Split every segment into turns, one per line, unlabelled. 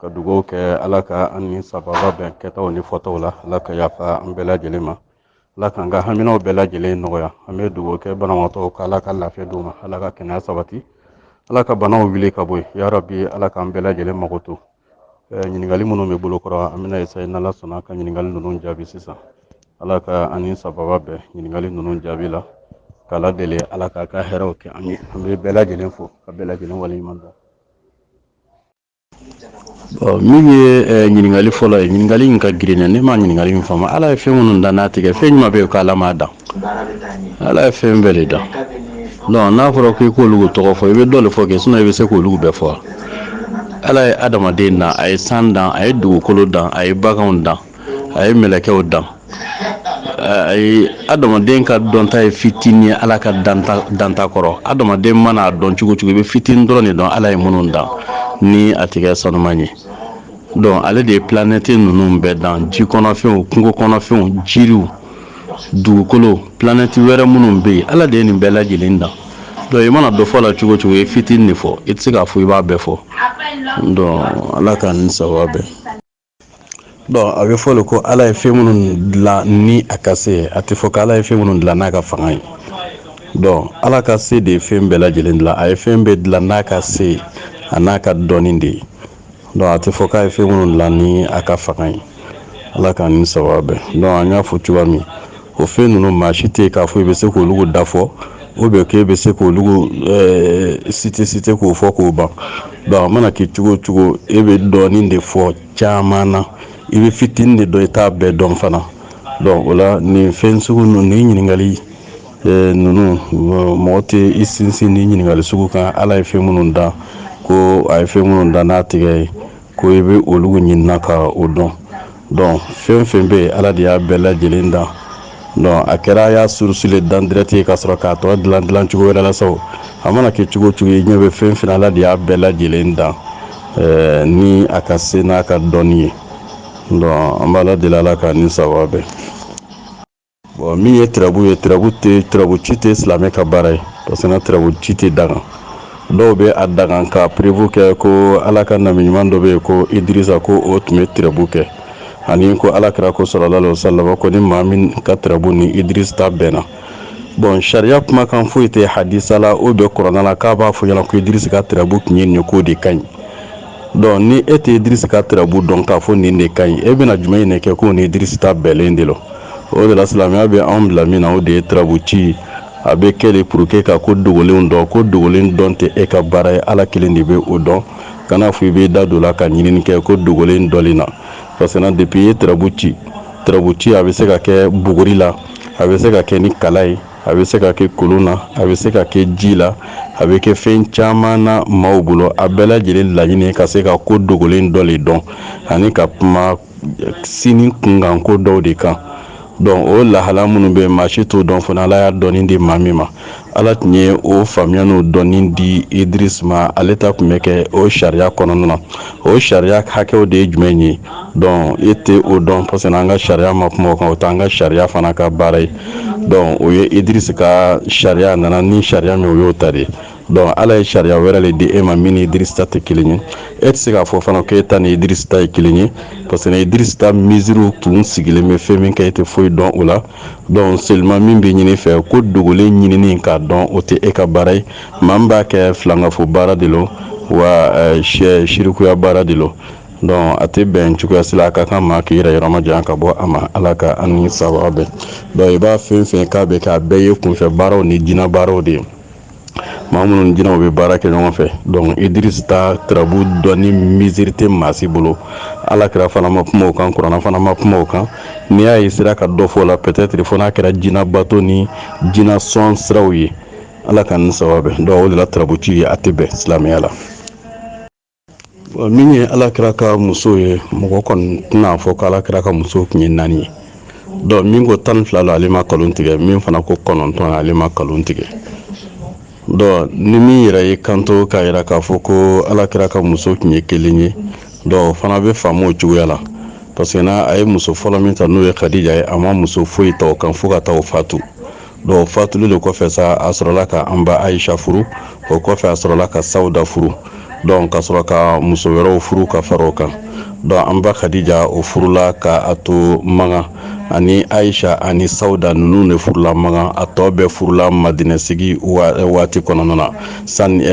ka dugaw kɛ ala ka an ni sababa bɛn kɛtaw ni fɔtaw la ala ka yafa an bɛɛ lajɛlen ma ala k'an ka haminaw bɛɛ lajɛlen nɔgɔya an bɛ dugaw kɛ banabagatɔw ka ala ka lafiya d'u ma ala ka kɛnɛya sabati ala ka banaw wuli ka bɔ yen yarabi ala k'an bɛɛ lajɛlen mago to ɲininkali minnu bɛ bolo kɔrɔ an bɛna essayer n'ala sɔnna ka ɲininkali ninnu jaabi sisan ala ka an ni sababa bɛn ɲininkali ninnu jaabi la k'ala deli ala k'a ka hɛrɛw kɛ an ye an bɛ bɛɛ lajɛlen fo ka bɛɛ lajɛlen waleɲuman dɔn min ye eh, ɲininkali fɔlɔ ye ɲininkali in ka girin ne ma ɲininkali in faamu ala ye fɛn minnu dan n'a tigɛ fɛn jumɛn bɛ yen ko ala m'a dan ala ye fɛn bɛɛ de dan donc n'a fɔra k'i k'olu tɔgɔ fɔ i bɛ dɔ de fɔ kɛ sinɔn i bɛ se k'olu bɛɛ fɔ ala ye adamaden dan a ye san dan a ye dugukolo dan a ye baganw dan a ye mɛlɛkɛw dan a ye adamaden ka dɔnta ye fitinin ye ala ka danta kɔrɔ adamaden mana a dɔn cogo cogo i bɛ fitinin dɔrɔn de dɔn ala ye minnu dan ni a tigɛ sanuman ye donc ale de ye planɛti ninnu bɛɛ dan ji kɔnɔfɛnw kungo kɔnɔfɛnw jiriw dugukolo planɛti wɛrɛ minnu bɛ yen ala de ye nin bɛɛ lajɛlen dan donc i mana dɔ fɔ la cogo cogo i ye fitinin de fɔ i tɛ se k'a fɔ i b'a bɛɛ fɔ ala ka an ni sababa bɛn a bɛ fɔ de ko ala ye fɛn minnu dilan ni a ka se a tɛ fɔ ko ala ye fɛn minnu dilan n'a ka fanga ye donc ala ka se de ye fɛn bɛɛ lajɛlen dilan a ye fɛn bɛɛ dilan n'a ka se a n'a ka dɔnni de ye donc a tɛ fɔ k'a ye fɛn minnu dilan ni a ka fanga ye ala k'an ni sababa bɛn donc an y'a fɔ cogoya min o fɛn ninnu maa si tɛ yen k'a fɔ i bɛ se k'olu da fɔ ou bien k'e bɛ se k'olu site site k'o fɔ k'o ban donc a mana kɛ cogo cogo e bɛ dɔɔnin de fɔ caman na i bɛ fitinin de dɔn i t'a bɛɛ dɔn fana donc o la nin fɛn sugu ninnu nin ɲininkali ninnu mɔgɔ tɛ i sinsin nin ɲininkali sugu kan ala ye fɛn minnu dan ko a ye fɛn minnu dan n'a tigɛ ye ko i bɛ olu ɲinina ka o dɔn donc fɛn fɛn bɛ yen ala de y'a bɛɛ lajɛlen dan donc a kɛra a y'a source le dan direct ye ka sɔrɔ k'a tɔ dilan dilan cogo wɛrɛ la sa o a mana kɛ cogo cogo i ɲɛ bɛ fɛn fɛn ala de y'a bɛɛ lajɛlen dan eh, ni a ka se n'a ka dɔnni ye donc an b'ala deli ala k'an ni sababa bɛn Bon min ye tirabu ye tirabu ci tɛ silamɛ ka baara ye parce que tirabu ci tɛ daga dɔw bɛ a daga ka preuve kɛ ko ala ka nabi ɲuman dɔ bɛ yen ko idirisa ko o tun bɛ tirabu kɛ ani ko ala kira ko sallallahu alaihi wasallam ko ni maa min ka tirabu ni idirisi ta bɛnna bon sariya kumakan foyi tɛ hadisa la ou bien kurana la k'a b'a fɔ ɲɛna ko idirisi ka tirabu tun ye nin ko de ka ɲi donc ni e tɛ idirisi ka tirabu dɔn k'a fɔ nin de ka ɲi e bɛna jumɛn in de kɛ ko ni idirisi ta bɛnnen de lo o de la silamɛya bɛ anw bila min na o de ye tirabu ci a bɛ kɛ de pour que ka ko dogolenw dɔn ko dogolen dɔn tɛ e ka baara ye ala kelen de bɛ o dɔn kana fɔ i bɛ da don la ka ɲinini kɛ ko dogolen dɔnni na parce que na depuis i ye tirabu ci tirabu ci a bɛ se ka kɛ buguri la a bɛ se ka kɛ ni kala ye a bɛ se ka kɛ kolon na a bɛ se ka kɛ ji la a bɛ kɛ fɛn caman na maaw bolo a bɛɛ lajɛlen laɲini ka se ka ko dogolen dɔ de dɔn ani ka kuma sini kunkan ko dɔw de kan donc o lahala minnu bɛ maa si t'o dɔn fana ala y'a dɔnni di maa min ma ala tun ye o faamuya n'o dɔnni di idirisi ma ale ta tun bɛ kɛ o sariya kɔnɔna na o sariya hakɛw de ye jumɛn ye donc e tɛ o dɔn parce que an ka sariya ma kuma o kan o tɛ an ka sariya fana ka baara ye donc o ye idirisi ka sariya nana ni sariya min o y'o ta de donc ala ye sariya wɛrɛ de di e ma min ni idirisi ta tɛ kelen ye e tɛ se k'a fɔ fana k'e ta ni idirisi ta ye kelen ye parce que idirisi ta miziriw tun sigilen bɛ fɛn min kan e tɛ foyi dɔn o la donc seulement min bɛ ɲini fɛ ko dogolen ɲinin k'a dɔn o tɛ e ka baara ye maa min b'a kɛ filankafo baara de lo wa sirikuya baara de donc a tɛ bɛn cogoya si la a ka kan maa k'i yɛrɛ yɔrɔma janya ka bɔ a ma ala ka an ni sababu bɛn donc i b'a fɛn fɛn k'a bɛ kɛ a bɛɛ ye kunfɛ baaraw ni jinɛ baaraw de ye maa minnu jinɛw bɛ baara kɛ ɲɔgɔn fɛ donc idirisi ta tirabu dɔnni miziri tɛ maa si bolo ala kira fana ma kuma o kan kuranɛ fana ma kuma o kan n'i y'a ye sera ka dɔ fɔ o la peut-être fo n'a kɛra jinɛ bato ni jinɛ sɔn siraw ye ala k'an ni sababu bɛn donc o de la tirabu ci ye a tɛ bɛn silamɛya la min ye ala kira ka muso ye mɔgɔ kɔni tɛna fɔ ko ala kira ka muso tun ye naani ye donc min ko tan ni fila lo ale ma kalon tigɛ min fana ko kɔnɔntɔn ale ma kalon tigɛ donc ni min yɛrɛ ye kanto k'a jira k'a fɔ ko ala kira ka muso tun ye kelen ye donc fana bɛ faamu o cogoya la parce que n'a a ye muso fɔlɔ min ta n'o ye kadija ye a ma muso foyi ta o kan fo ka taa o fatu donc o fatuli de kɔfɛ sa a sɔrɔla ka an ba ayisa furu o kɔfɛ a sɔrɔla ka sawuda furu donc ka sɔrɔ ka muso wɛrɛw furu ka fara o kan donc an ba kadija o furula ka a to makan ani ayisa ani sawuda ninnu de furula makan a tɔ bɛɛ furula madinɛ sigi waati kɔnɔna na sani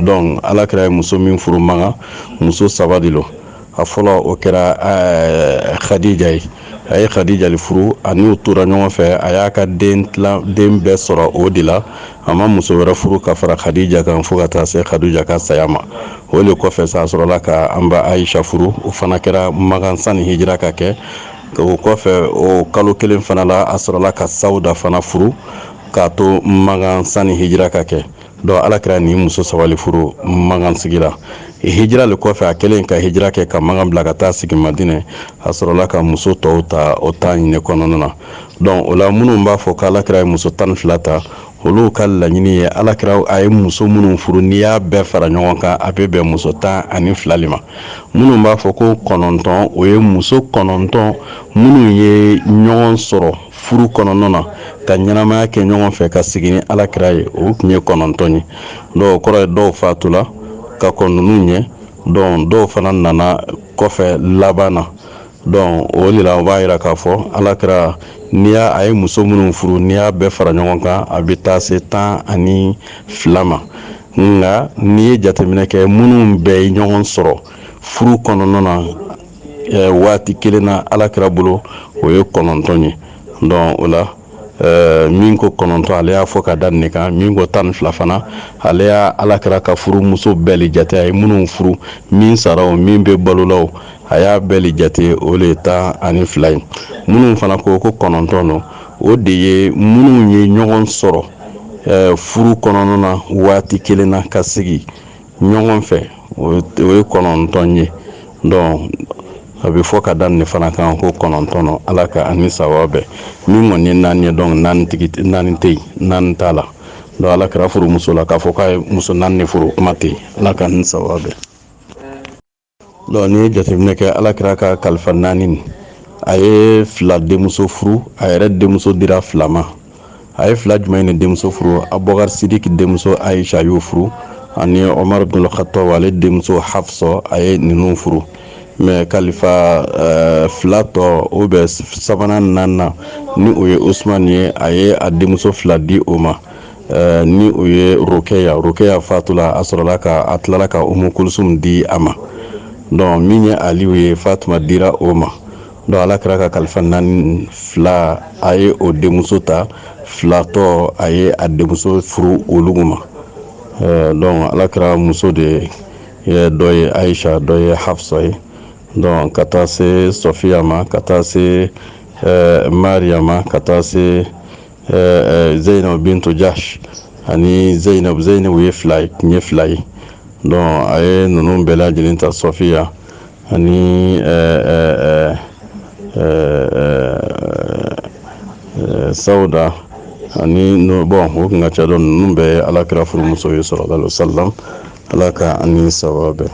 donc ala kira ye muso min furu makan muso saba de lo a fɔlɔ o kɛra kadija ye a ye kadija le furu ani u tora ɲɔgɔn fɛ a y'a ka den bɛɛ sɔrɔ o de la a ma muso wɛrɛ furu ka fara kadija kan fo ka taa se kadija ka saya ma o de kɔfɛ sa a sɔrɔla ka an ba ayisa furu o fana kɛra makan sani hijira ka kɛ o kɔfɛ o kalo kelen fana la a sɔrɔla ka sawuda fana furu k'a to makan sani hijira ka kɛ Donc ala kira ni muso saba le furu Makan sigira hijira le kɔfɛ a kɛlen ka hijira kɛ ka Makan bila ka taa sigi Madinɛ a sɔrɔla ka muso tɔw ta o Madinɛ kɔnɔna na donc o la minnu b'a fɔ k' ala kira ye muso tan ni fila ta olu ka laɲini ye ala kira a ye muso minnu furu n'i y'a bɛɛ fara ɲɔgɔn kan a bɛ bɛn muso tan ani fila de ma minnu b'a fɔ ko kɔnɔntɔn o ye muso kɔnɔntɔn minnu ye ɲɔgɔn sɔrɔ furu kɔnɔna na ka ɲɛnamaya kɛ ɲɔgɔn fɛ ka sigi ni ala kira ye o tun ye kɔnɔntɔn ye donc o kɔrɔ ye dɔw fatula ka kɔn ninnu ɲɛ donc dɔw fana nana kɔfɛ laban na donc o de la o b'a yira k'a fɔ ala kira n'i y'a a ye muso minnu furu n'i y'a bɛɛ fara ɲɔgɔn kan a bɛ taa se tan ani fila ma nka n'i ye jateminɛ kɛ minnu bɛɛ ye ɲɔgɔn sɔrɔ furu kɔnɔna na waati kelen na ala kira bolo o ye kɔnɔntɔn ye donc o la min ko kɔnɔntɔn ale y'a fɔ ka da nin kan min ko tan ni fila fana ale y'a ala kira ka furu muso bɛɛ le jate a ye minnu furu min sara o min bɛ balo la o a y'a bɛɛ le jate o de ye tan ani fila ye minnu fana ko ko kɔnɔntɔn don o de ye minnu ye ɲɔgɔn sɔrɔ furu kɔnɔna na waati kelen na ka sigi ɲɔgɔn fɛ o ye kɔnɔntɔn ye donc a bɛ fɔ ka da nin fana kan ko kɔnɔntɔn don ala ka an ni sawaba bɛn min kɔni ye naani ye donc naani tɛ yen naani t'a la donc ala kira furu muso la k'a fɔ k'a ye muso naani de furu kuma tɛ ala ka an ni sawaba bɛn donc n'i ye jateminɛ kɛ ala kira ka kalifa naani nin a ye fila denmuso furu a yɛrɛ denmuso dira fila ma a ye fila jumɛn de denmuso furu abubakar sidiki denmuso ayisa y'o furu ani omar bin khattab ale denmuso hafsa a ye ninnu furu mais kalifa eh, fila tɔ o bɛ sabanan naaninan ni o ye usman ye a ye a denmuso fila di o ma ni o ye rokɛya rokɛya fatula a sɔrɔla ka a tilala ka umu kulusum di a ma donc min ye aliw ye fatuma dira o ma donc ala kira ka kalifa naani fila a ye o denmuso ta fila tɔ a ye a denmuso furu olugu ma donc ala kira muso de ye dɔ ye ayisa dɔ ye hafsa ye donc ka taa se sɔfiya ma ka taa se mariya ma ka taa se zeyinabu bintu jahsh ani zeyinabu zeyinabu ye fila ye donc a ye ninnu bɛɛ lajɛlen ta sɔfiya ani sawuda ani bon o kun ka ca donc ninnu bɛɛ ye alakira furumuso ye sallallahu alayhi wa sallam ala ka an ni sawaba bɛn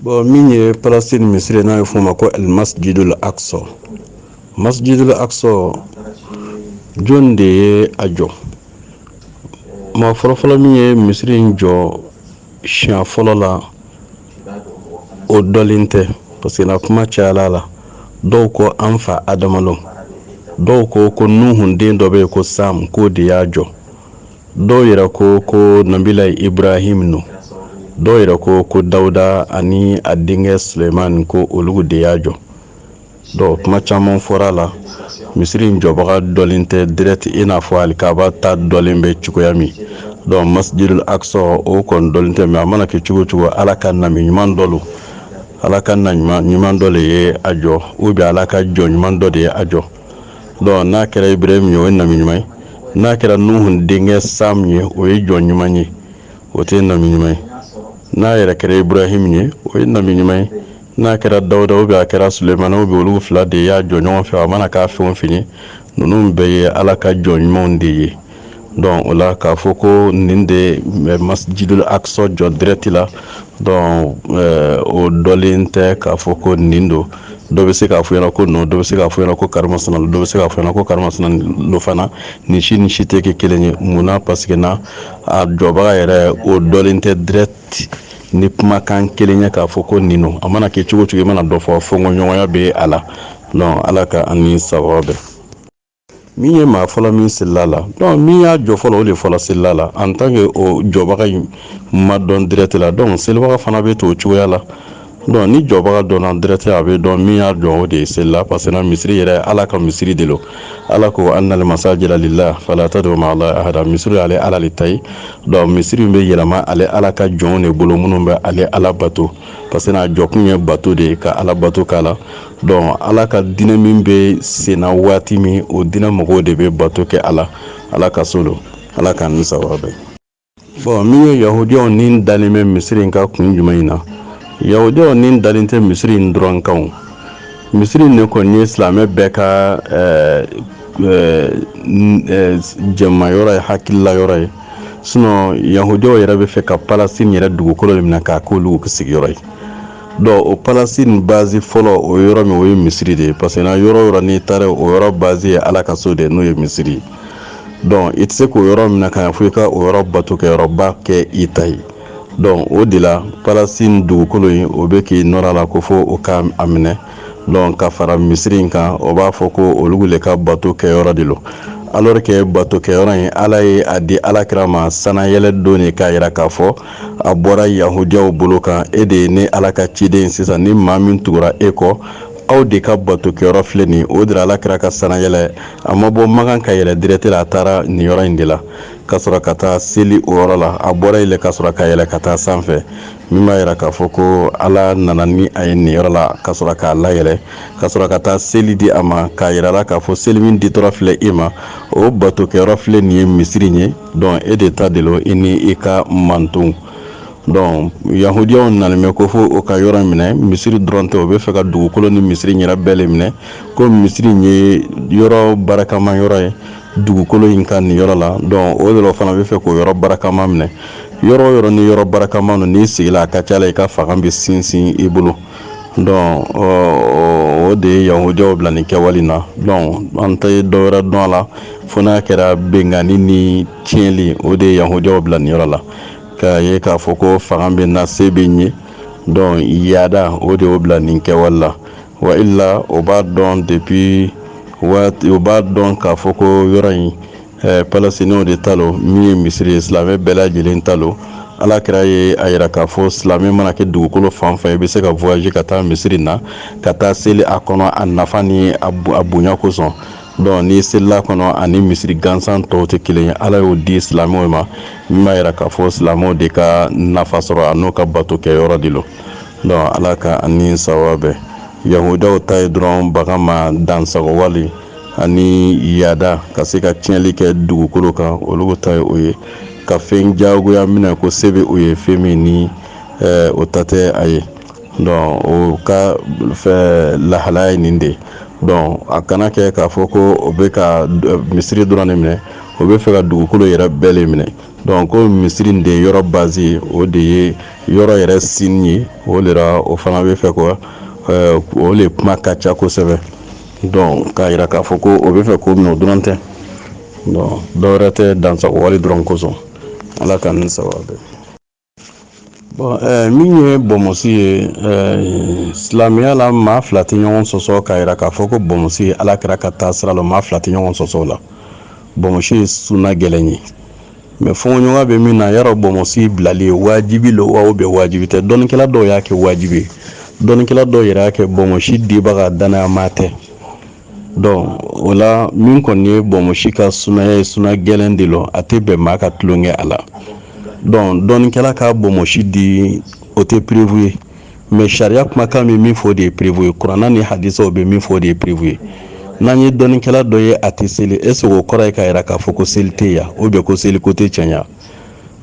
Bon min ye Palestine misiri n'a bɛ f'o ma ko Al Masjidul Aqsa Masjidul Aqsa jɔni de ye a jɔ maa fɔlɔfɔlɔ min ye misiri in jɔ siɲɛ fɔlɔ la o dɔlen tɛ parce que na kuma cayala a la dɔw ko an fa Adama lo dɔw ko ko Nuhun den dɔ bɛ yen ko Sam k'o de y'a jɔ dɔw yɛrɛ ko ko nabila ibrahim no dɔw yɛrɛ ko ko dawuda ani a denkɛ suleiman ko olu de y'a jɔ donc kuma caman fɔra la misiri in jɔbaga dɔlen tɛ direct i n'a fɔ alikaba ta dɔlen bɛ cogoya min donc masjidul aqsa o kɔni dɔlen tɛ mais a mana kɛ cogo cogo ala ka nabi ɲuman dɔ lo ala ka nabi ɲuman dɔ de ye a jɔ ou bien ala ka jɔn ɲuman dɔ de ye a jɔ donc n'a kɛra ibrahim ye o ye nabi ɲuman ye n'a kɛra nuhun denkɛ sam ye o ye jɔn ɲuman ye o tɛ nabi ɲuman ye n'a yɛrɛ kɛra ibrahim ye o ye nabi ɲuman ye n'a kɛra dawuda ou bien a kɛra sulemani ou bien olu fila de y'a jɔ ɲɔgɔn fɛ a mana k'a fɛn o fɛn ye ninnu bɛɛ ye ala ka jɔn ɲumanw de ye donc o la k'a fɔ ko nin de masjidul aqsa jɔ direct la donc eh, o dɔlen tɛ k'a fɔ ko nin don dɔ bɛ se k'a fɔ ɲɛna ko non dɔ bɛ se k'a fɔ ɲɛna ko karimasina dɔ bɛ se k'a fɔ ɲɛna ko karimasina lo fana nin si ni si tɛ kɛ kelen ye mun na parce que na a jɔbaga yɛrɛ o dɔlen tɛ direct ni kumakan kelen ye k'a fɔ ko nin don a mana kɛ cogo cogo i mana dɔ fɔ fɔnkɔɲɔgɔnya bɛ a la donc ala ka an ni sawaba bɛn min ye maa fɔlɔ min selila la donc min y'a jɔ fɔlɔ o de fɔlɔ selila la en tant que o jɔbaga in ma dɔn direct la donc selibaga fana bɛ to o cogoya la donc ni jɔbaga dɔnna direct a bɛ dɔn min y'a jɔ o de selila parce que na misiri yɛrɛ ala ka misiri de lo ala ko annal masajida lillah fala tad'u ma'a allahi ahada misiri ale ala le ta ye donc misiri bɛ yɛlɛma ale ala ka jɔnw de bolo minnu bɛ ale ala bato parce que n'a jɔkun ye bato de ye ka ala bato k'a la donc ala ka diinɛ min bɛ senna waati min o diinɛ mɔgɔw de bɛ bato kɛ a la ala ka so don ala k'an ni sawaba bɛn bon min ye yahudiyaw ni dalen bɛ misiri in kan kun jumɛn in na yahudiyaw ni dalen tɛ misiri in dɔrɔn kan misiri in de kɔni ye silamɛ bɛɛ ka eh, eh, eh, jɛma yɔrɔ ye hakilila yɔrɔ ye sinon yahudiyaw yɛrɛ bɛ fɛ ka palestine yɛrɛ dugukolo de minɛ k'a k'olu sigiyɔrɔ ye donc o palestine base fɔlɔ o yɔrɔ min o ye misiri de ye parce que na yɔrɔ yɔrɔ n'i taara o yɔrɔ base ye ala ka so de n'o ye misiri ye donc i tɛ se k'o yɔrɔ minɛ ka ɲa fo i ka o yɔrɔ bato kɛ yɔrɔba kɛ i ta ye donc o de la palestine dugukolo in o bɛ k'i nɔrɔ a la ko fo o ka a minɛ donc ka fara misiri in kan o b'a fɔ ko olu de ka bato kɛ yɔrɔ de lo alors que bato kɛ yɔrɔ in ala ye a di ala kira ma sanayɛlɛ don de k'a jira k'a fɔ a bɔra yahudiyaw bolo kan e de ye ne ala ka ciden sisan ni maa min tugura e kɔ aw de ka bato kɛyɔrɔ filɛ nin o de la ala kira ka sanayɛlɛ a ma bɔ makan ka yɛlɛ direct la a taara nin yɔrɔ in de la ka sɔrɔ ka taa seli o yɔrɔ la a bɔra yen ka sɔrɔ ka yɛlɛ ka taa sanfɛ min b'a yira k'a fɔ ko ala nana ni a ye nin yɔrɔ la ka sɔrɔ k'a layɛlɛ ka sɔrɔ ka taa seli di a ma k'a yira la k'a fɔ seli min ditɔ filɛ e ma o bato kɛyɔrɔ filɛ nin ye misiri ye donc e de ta de lo i ni i ka mantonw donc yahudiyaw nana mɛn ko fo o ka yɔrɔ minɛ misiri dɔrɔn tɛ o bɛ fɛ ka dugukolo ni misiri yɛrɛ bɛɛ le minɛ ko misiri ye yɔrɔ barakama yɔrɔ ye dugukolo in kan nin yɔrɔ la donc o de la o fana bɛ fɛ k'o yɔrɔ barakama minɛ yɔrɔ o yɔrɔ ni yɔrɔ barakama no n'i sigila a ka ca la i ka fanga bɛ sinsin i bolo donc o de ye yahudiyaw bila nin kɛwale na donc an tɛ dɔ wɛrɛ dɔn a la fo n'a kɛra benkanni ni tiɲɛli o de ye yahudiyaw bila nin yɔrɔ la k'a ye k'a fɔ ko fanga bɛ n na se bɛ n ye donc yaada o de y'o bila nin kɛwale la wa illa o b'a dɔn depuis waati o b'a dɔn k'a fɔ ko yɔrɔ in ɛɛ palestiniw de ta lo min ye misiri ye silamɛ bɛɛ lajɛlen ta lo ala kira ye a yira k'a fɔ silamɛ mana kɛ dugukolo fan fan i bɛ se ka voyager ka taa misiri na ka taa seli a kɔnɔ a nafa ni a bonya kosɔn donc n'i selila a kɔnɔ ani misiri gansan tɔw tɛ kelen ye ala y'o di silamɛw ma min b'a yira k'a fɔ silamɛw de ka nafa sɔrɔ a n'o ka bato kɛ yɔrɔ de lo donc ala ka an ni sawaba bɛn yahudiyaw ta ye dɔrɔn bagan ma dansago wale ani yaada ka se ka tiɲɛli kɛ dugukolo kan olu ta ye o ye ka fɛn jagoya minɛ ko se bɛ o ye fɛn min ni eh, o ta tɛ a ye donc o ka lahalaya ye nin de ye donc a kana kɛ k'a fɔ ko o bɛ ka eh, misiri dɔrɔn de minɛ o bɛ fɛ ka dugukolo yɛrɛ bɛɛ le minɛ donc ko misiri de ye yɔrɔ base ye o de ye yɔrɔ yɛrɛ sini ye o de la o fana bɛ fɛ ko eh, o le kuma ka ca kosɛbɛ donc k'a yira k'a fɔ ko o bɛ fɛ k'o minɛ o dɔrɔn tɛ donc dɔwɛrɛ tɛ dansago wale dɔrɔn kosɔn ala k'an ni sawaba bɛn bon min ye bɔnmɔsi ye silamɛya la maa fila tɛ ɲɔgɔn sɔsɔ k'a yira k'a fɔ ko bɔnmɔsi ye ala kira ka taasira lo maa fila tɛ ɲɔgɔn sɔsɔ o la bɔnmɔsi ye suna gɛlɛn ye mais fɔɲɔgɔnya bɛ min na yɔrɔ bɔnmɔsi bilali ye wajibi lo wa ou bien wajibi tɛ dɔnnikɛla dɔw y'a kɛ wajibi ye dɔnnikɛla dɔw yɛrɛ y'a kɛ bɔnmɔsi dibaga danayama tɛ donc o la min kɔni ye bɔnmɔsi ka sunaya ye suna gɛlɛn de lo a tɛ bɛn maa ka tulonkɛ a la donc dɔnnikɛla ka bɔnmɔsi di o tɛ preuve ye mais sariya kumakan bɛ min fɔ o de ye preuve ye kuranna ni hadisaw bɛ min fɔ o de ye preuve ye n'an ye dɔnnikɛla dɔ ye a tɛ seli est ce que o kɔrɔ ye k'a yira k'a fɔ ko seli tɛ yan ou bien ko seli ko tɛ tiɲɛ ye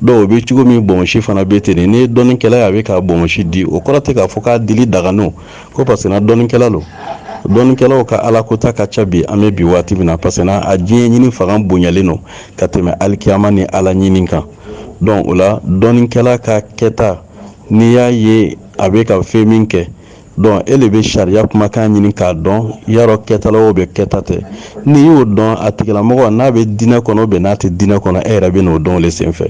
donc o bɛ cogo min bonsi fana bɛ ten n'i ye dɔnnikɛla ye a bɛ ka bonsi di o kɔrɔ tɛ k'a fɔ k'a dili dagalen don ko parce que dɔnnikɛla don dɔnnikɛlaw ka ala kota ka ca bi an bɛ bi waati min na parce que a diɲɛ ɲini fanga bonyalen don ka tɛmɛ alikiyama ni ala ɲini kan donc o la dɔnnikɛla ka kɛta n'i y'a ye a bɛ ka fɛn min kɛ donc e de bɛ sariya kumakan ɲini k'a dɔn yala kɛta lo ou bien kɛta tɛ n'i y'o dɔn a tigilamɔgɔ n'a bɛ diinɛ kɔnɔ ou bien n'a tɛ diinɛ kɔnɔ e yɛrɛ bɛ n'o dɔn o de senfɛ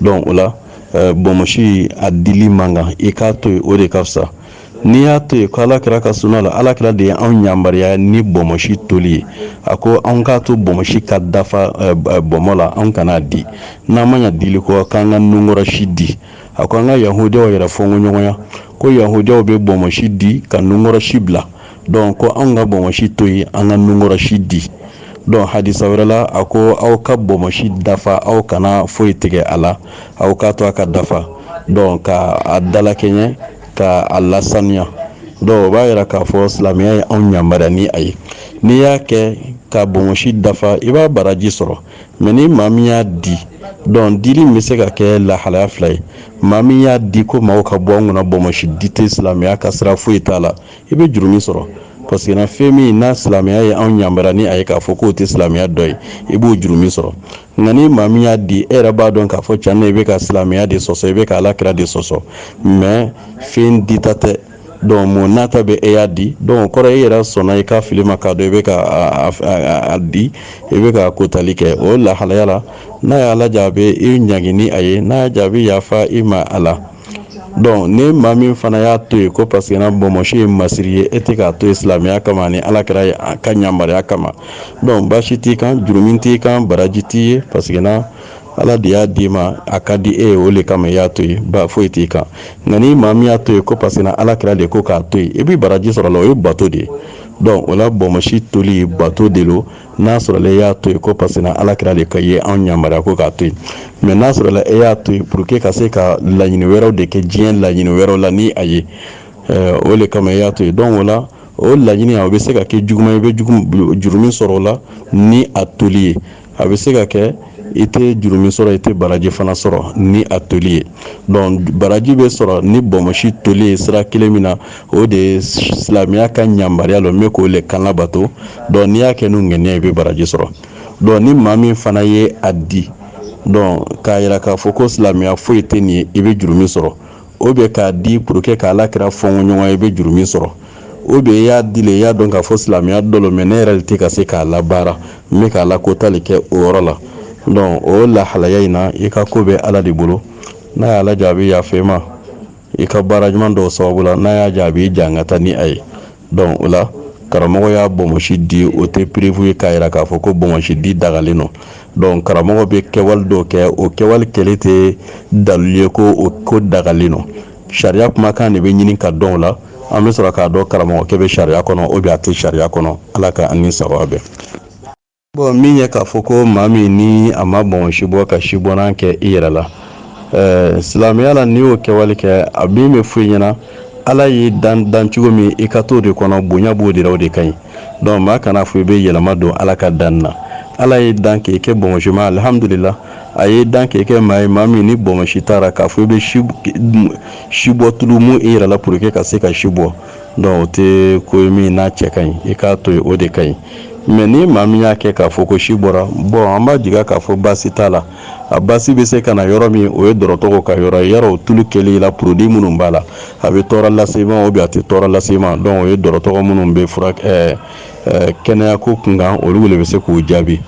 donc o la bɔnmɔsi a dili man kan i k'a to yen o de ka fisa n'i y'a to yen ko ala kira ka sunna lo ala kira de ye anw yamaruya ni bɔnmɔsi toli ye a ko an k'a to bɔnmɔsi ka dafa bɔnmɔ la an kan'a di n'an ma ɲɛ dili kɔ k'an ka nunkɔrɔsi di a ko an ka yahudiyaw yɛrɛ fɔnkoɲɔgɔnya ko yahudiyaw bɛ bɔnmɔsi di ka nunkɔrɔsi bila donc ko anw ka bɔnmɔsi to yen an ka nunkɔrɔsi di donc hadisa wɛrɛ la a ko aw ka bɔnmɔsi dafa aw kana foyi tigɛ a la aw k'a to a ka dafa donc ka a dalakɛɲɛ ka a lasaniya donc o b'a yira k'a fɔ silamɛya ye anw yamaruya ni a ye n'i y'a kɛ ka bɔnmɔsi dafa i b'a baraji sɔrɔ mais ni maa min y'a di donc dili bɛ se ka kɛ lahalaya fila ye maa min y'a di ko maaw ka bɔ an kunna bɔnmɔsi di tɛ silamɛya ka sira foyi t'a la i bɛ jurumi sɔrɔ parce que na fɛn min n'a silamɛya ye anw yamaruya ni a ye k'a fɔ k'o tɛ silamɛya dɔ ye i b'o jurumi sɔrɔ nka ni maa min y'a di e yɛrɛ b'a dɔn k'a fɔ tiɲɛ na i bɛ ka silamɛya de sɔsɔ i bɛ ka ala kira de sɔsɔ mais fɛn dita tɛ donc o n'a ta bɛɛ e y'a di donc o kɔrɔ e yɛrɛ sɔnna i ka fili ma k'a dɔn i bɛ ka a di i bɛ ka kotali kɛ o lahalaya la n'a y'ala diya a bɛ i ɲangi ni a ye n'a y'a diya a bɛ yafa i ma a la donc ni maa min fana y'a to yen ko parce que na bɔnmɔsi ye masiri ye e tɛ k'a to yen silamɛya kama ani ala kira ye a ka yamaruya kama donc baasi t'i kan jurumi t'i kan baraji t'i ye parce que na ala de y'a d'i ma a ka di e ye o de kama i y'a to yen ba foyi t'i kan nka ni maa min y'a to yen ko parce que ala kira de ko k'a to yen i bɛ baraji sɔrɔ a la o ye bato de ye donc o la bɔnmɔsi toli bato de don n'a sɔrɔla e y'a to yen ko parce que ala kira de ka ye anw yamaruya ko k'a to yen mais n'a sɔrɔla e y'a to yen pour que ka se ka laɲini wɛrɛw de kɛ diɲɛ laɲini wɛrɛw la ni a ye o de kama e y'a to yen donc o la o laɲini a bɛ se ka kɛ juguman i bɛ jurumi sɔrɔ o la ni a toli ye a bɛ se ka kɛ i tɛ jurumu sɔrɔ i tɛ baraji fana sɔrɔ ni a toli ye donc baraji bɛ sɔrɔ ni bɔnmɔsi toli ye sira kelen min na o de ye silamɛya ka yamaruya lo n bɛ k'o de kan labato donc n'i y'a kɛ n'o ŋaniya i bɛ baraji sɔrɔ donc ni maa min fana ye a di donc k'a yira k'a fɔ ko silamɛya foyi tɛ nin ye i bɛ jurumu sɔrɔ ou bien k'a di pour que ka ala kira fɔnko ɲɔgɔnya i bɛ jurumi sɔrɔ ou bien i y'a di le i y'a dɔn k'a fɔ silamɛya dɔ lo mais ne yɛrɛ de tɛ ka se k'a labaara n bɛ k'a lako tali kɛ o yɔrɔ la donc o lahalaya in na i ka ko bɛ ala de bolo n'a y'a laja a bɛ yafa i ma i ka baara ɲuman dɔw sababu la n'a y'a ja a b'i jangata ni a ye donc o la karamɔgɔ y'a bɔnsi di o tɛ preuve ye k'a yira k'a fɔ ko bonsi di dagalen don donc karamɔgɔ bɛ kɛwale dɔw kɛ o kɛwale kɛli tɛ dalilu ye ko o ko dagalen don sariya kumakan de bɛ ɲini k'a dɔn o la an bɛ sɔrɔ k'a dɔn karamɔgɔkɛ bɛ sariya kɔnɔ ou bien a tɛ sariya kɔnɔ ala ka an ni sawaba bɛn Bon min ye k'a fɔ ko maa min ni a ma bɔnsi bɔ ka sibɔnan kɛ i yɛrɛ la silamɛya la n'i y'o kɛwale kɛ an min bɛ fɔ i ɲɛna ala y'i dan dan cogo min i ka to o de kɔnɔ bonya b'o de la o de ka ɲi donc maa kana fɔ i bɛ yɛlɛma don ala ka dan na ala y'i dan k'i kɛ bɔnsima alihamdulila a y'i dan k'i kɛ maa ye maa min ni bɔnsi t'a ra k'a fɔ i bɛ si bɔ tulu mun i yɛrɛ la pour que ka se ka si bɔ donc o tɛ ko ye min n'a cɛ ka ɲi i k'a to yen o de ka ɲi mais ni maa min y'a kɛ k'a fɔ ko si bɔra bon an b'a jigi k'a fɔ baasi t'a la a baasi bɛ se ka na yɔrɔ min o ye dɔgɔtɔrɔw ka yɔrɔ ye yala o tulu kɛli la produit minnu b'a la a bɛ tɔɔrɔ lase i ma ou bien a tɛ tɔɔrɔ lase i ma donc o ye dɔgɔtɔrɔ minnu bɛ fura kɛnɛya ko kunkan olu de bɛ se k'o jaabi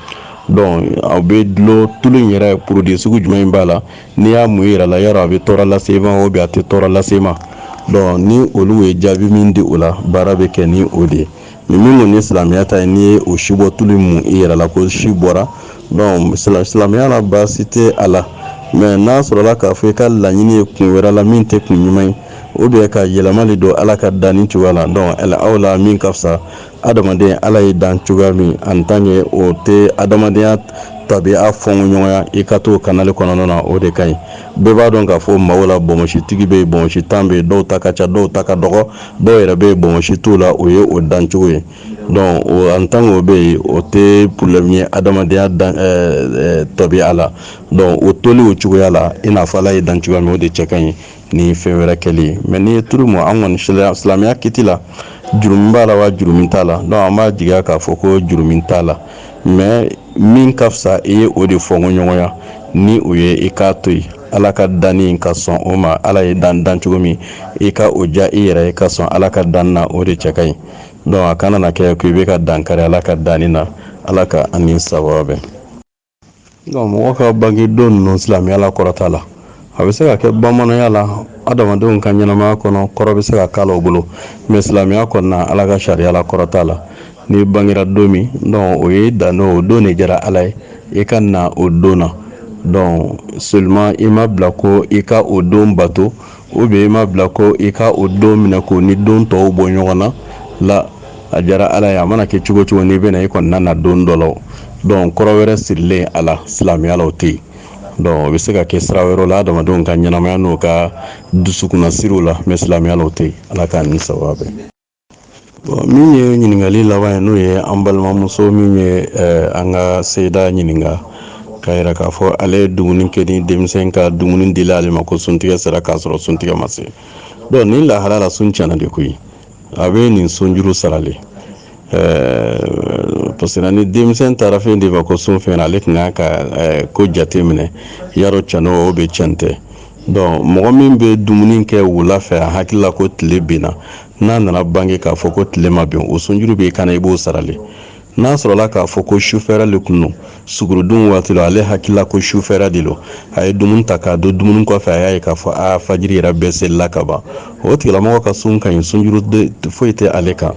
donc a bɛ dulon tulu in yɛrɛ produit sugu jumɛn b'a la n'i y'a mun i yɛrɛ la yala a bɛ tɔɔrɔ lase i ma ou bien a tɛ tɔɔrɔ lase i ma donc ni olu ye jaabi min di o la baara bɛ kɛ ni o de ye mais min kɔni ye silamɛya ta ye n'i ye o sibɔ tulu mun i yɛrɛ la ko si bɔra donc silamɛya la baasi tɛ a la mais n'a sɔrɔla k'a fɔ i ka laɲini ye kun wɛrɛ la min tɛ kun ɲuman ye ou bien ka yɛlɛma de don ala ka danni cogoya la donc aw la min ka fisa adamaden ala ye dan cogoya min en tant que o tɛ adamadenya tabiya fɔnko ɲɔgɔnya i ka to kanale kɔnɔna na o de ka ɲi bɛɛ b'a dɔn k'a fɔ maaw la bɔnsitigi bɛ bɔnsitan bɛ dɔw ta ka ca dɔw ta ka dɔgɔ dɔw yɛrɛ bɛ bɔnsi t'u la o ye o dancogo ye donc en tant que o bɛ yen o tɛ problème ye adamadenya tabiya la donc o toli o cogoya la i n'a fɔ ala ye dan cogoya min o de cɛ ka ɲi ni fɛn wɛrɛ kɛli ye mais n'i ye tulu mun an kɔni silamɛya kiti la jurumi b'a la wa jurumi t'a la donc an b'a jigiya k'a fɔ ko jurumi t'a la mais min ka fisa i ye o de fɔnko ɲɔgɔnya ni o ye i k'a to yen ala ka danni ka sɔn o ma ala y'i dan dan cogo min i ka o ja i yɛrɛ ye ka sɔn ala ka dan na o de cɛ ka ɲi donc a kana na kɛ ko i bɛ ka dankari ala ka danni na ala ka an ni sawaba bɛn mɔgɔ ka bange don ninnu silamɛya la kɔrɔ t'a la a bɛ se ka kɛ bamananya la adamadenw ka ɲɛnamaya kɔnɔ kɔrɔ bɛ se ka k'a la u bolo mais silamɛya kɔnɔna ala ka sariya la kɔrɔ t'a la n'i bangera don min donc o ye dan o don de diyara ala ye i ka na o don na donc seulement i ma bila ko i ka o don bato o bɛ i ma bila ko i ka o don minɛ ko ni don tɔw bɔ ɲɔgɔn na la a diyara ala ye a mana kɛ cogo cogo n'i bɛna i kɔnɔna na don dɔ la donc kɔrɔ wɛrɛ sirilen a la silamɛya la o tɛ yen donc o bɛ se ka kɛ sira wɛrɛ la adamadenw ka ɲɛnamaya n'o ka dusukunna siraw la mais silamɛya la o tɛ yen ala k'an ni sawaba bɛn min ye ɲininkali laban ye n'o ye an balimamuso min ye an ka seda ɲininka k'a yira k'a fɔ ale ye dumuni kɛ ni denmisɛn ka dumuni dila ale ma ko suntigɛ sera k'a sɔrɔ suntigɛ ma se donc nin lahala la sun tiɲɛna de koyi a bɛ nin sunjuru sara le parce que ni denmisɛn taara fɛn de ma ko sun fɛn ale tun ka ko jate minɛ yala can o bɛ can tɛ donc mɔgɔ min bɛ dumuni kɛ wula fɛ a hakilila ko tile binna n'a nana bange k'a fɔ ko tile ma bin o sunjuru b'i kan na i b'o sara le n'a sɔrɔla k'a fɔ ko sufɛra le kun don sugurudun waati la ale hakilila ko sufɛra de lo a ye dumuni ta k'a dun dumuni kɔfɛ a y'a ye k'a fɔ a fajiri yɛrɛ bɛɛ selila ka ban o tigilamɔgɔ ka sun ka ɲi sunjuru foyi tɛ ale kan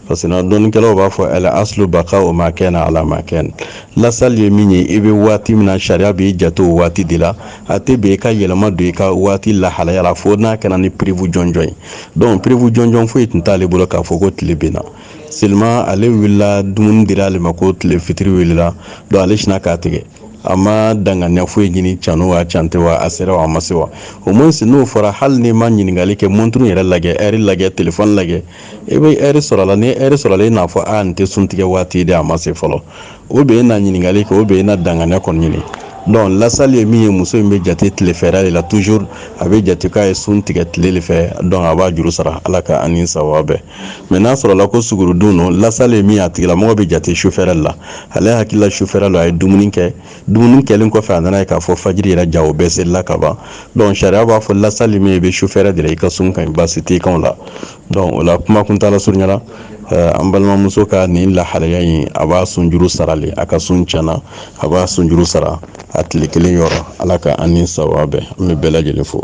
parce que dɔnnikɛlaw b'a fɔ al aslu baka'u ma kaana ala ma kaana lasali ye min ye i bɛ waati min na sariya b'i jate o waati de la a tɛ bɛn i ka yɛlɛma don i ka waati lahalaya la fo n'a kɛra ni preuve jɔnjɔn ye donc preuve jɔnjɔn foyi tun t'ale bolo k'a fɔ ko tile binna seulement ale wulila dumuni dira ale ma ko tile fitiri wulila donc ale sinna k'a tigɛ a ma danganiya foyi ɲini can wa can tɛ wa a sera wa a ma se wa au moins n'o fɔra hali n'i ma ɲininkali kɛ montre yɛrɛ lajɛ heure lajɛ telefɔni lajɛ i bɛ heure sɔrɔ a la ni heure sɔrɔla i n'a fɔ a nin tɛ sun tigɛ waati de a ma se fɔlɔ o bɛ e na ɲininkali kɛ o bɛ e na danganiya kɔni ɲini donc lasali ye min ye muso in bɛ jate tilefɛrɛ de la toujours a bɛ jate k'a ye sun tigɛ tile de fɛ donc a b'a juru sara ala ka an ni sawaba bɛn mais n'a sɔrɔla ko sugurudun don lasali ye min ye a tigilamɔgɔ bɛ jate sufɛrɛ la ale hakilila sufɛrɛ la a ye dumuni kɛ dumuni kɛlen kɔfɛ a nana ye k'a fɔ fajiri yɛrɛ ja o bɛɛ selila ka ban donc sariya b'a fɔ lasali min ye i bɛ sufɛrɛ de la i ka sun ka ɲi baasi tɛ kan la donc o la kuma kuntaala surunya la eh, an balimamuso ka nin lahalaya in a b'a sunjuru sara le a ka sun tiɲɛna a b'a sunjuru sara a tile kelen yɔrɔ ala ka an ni sawaba bɛn an bɛ bɛɛ lajɛlen fo